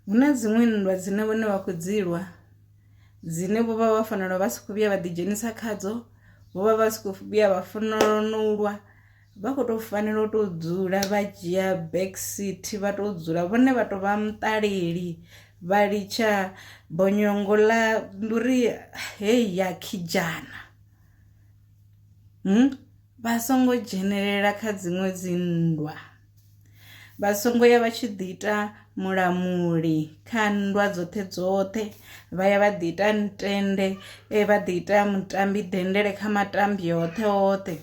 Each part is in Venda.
hu na dziṅwe nndwa dzine vhone vha khou dzi lwa dzine vho vha vha fanela vha si khou vhuya vha ḓidzhenisa khadzo vho vha vha si khou vhuya vha fanela no lwa vha khou tou fanela u tou dzula vha dzhia back seat vha tou dzula vhone vha tou vha muṱaleli vha litsha bonyongo ḽa ndi uri hei ya khijana hmm? vha songo dzhenelela kha dziṅwe dzi nndwa Vha songo ya vha tshi ḓi ita mulamuli kha nndwa dzoṱhe dzoṱhe vha ya vha ḓi ita ntende eh, vha ḓi ita mutambi dendele kha matambi oṱhe oṱhe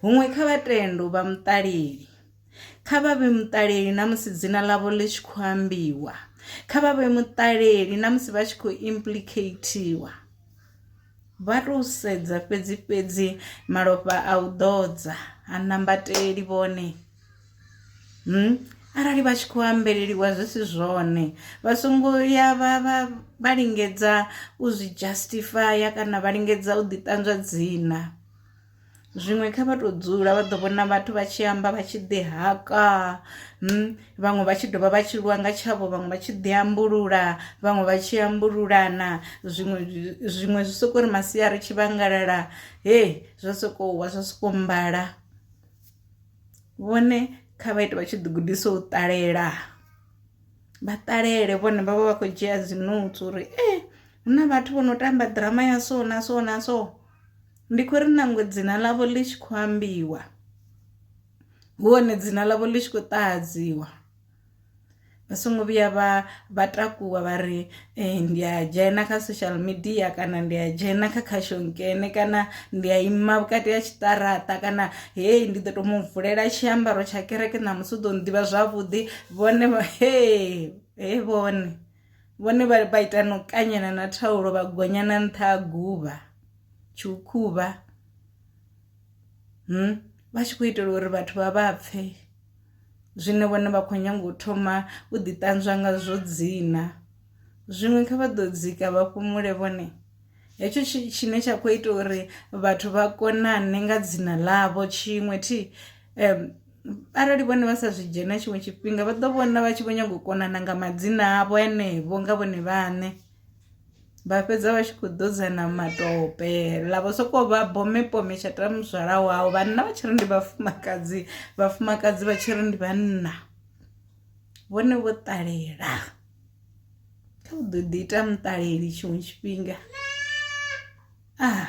huṅwe kha vhatendu vha muṱaleli kha vha vhe muṱaleli na musi dzina ḽavho ḽi tshi khou ambiwa kha vha vhe muṱaleli na musi vha tshi khou implicatiwa Vha tou sedza fhedzi-fhedzi malofha a u ḓodza ha nambateli vhone. Hmm? Arali vha tshi khou ambeleliwa zwi si zwone, vha songo ya vha vha vha lingedza u zwi justify kana vha lingedza u ḓi ṱanzwa dzina. zwiṅwe kha vha to dzula vha ḓo vhona vhathu vha tshi amba vha tshi ḓi haka hmm, vhaṅwe vha tshi dovha vha tshi lwa nga tshavho vhaṅwe vha tshi ḓi ambulula vhaṅwe vha tshi ambululana zwiṅwe zwiṅwe zwi soko ri masia ri tshi vhangalala he zwa soko wa zwa soko mbala vhone kha vha ite vha tshi ḓi gudisa u ṱalela vha ṱalele vhone vha vha vha khou dzhia dzinotsi uri e eh, hu na vhathu vho no tamba ḓirama ya so na so na so Ndi khou ri nangwe dzina ḽavho ḽi tshi khou ambiwa hu hone dzina ḽavho ḽi tshi khou ṱahadziwa vha songo vhuya vha vha takuwa vha ri eh, ndi a dzhena kha social media kana ndi a dzhena kha khashonkene kana ndi a ima vhukati ha tshiṱaraṱa kana hei ndi ḓo to mu vulela tshiambaro tsha kereke ṋamusi u ḓo nḓivha zwavhuḓi vhone he he vhone vhone vha vha ita no kanyana na thaulo vha gonya na nṱha ha guvha tshukhuvha hm vha tshi khou itela uri vhathu vha vha pfhe zwine vhone vha khou nyanga u thoma u ḓi ṱanzwa nga zwo dzina zwiṅwe kha vha ḓo dzika vha fhumule vhone hetsho tshine tsha khou ita uri vhathu vha konane nga dzina ḽavho tshiṅwe thi um arali vhone vha sa zwi dzhena tshiṅwe tshifhinga vha ḓo vhona vha tshi vho nyago u konana nga madzina avho enevho nga vhone vhaṋe vha fhedza vha tshi khou ḓodzana matope ḽa vho sokou vha bomepome tsha tala muzwala wau vhanna vha tshi ri ndi vhafumakadzi vhafumakadzi vha tshi ri ndi vhanna vhone vho ṱalela kha u ḓo ḓi ita muṱaleli tshiṅwe tshifhinga ah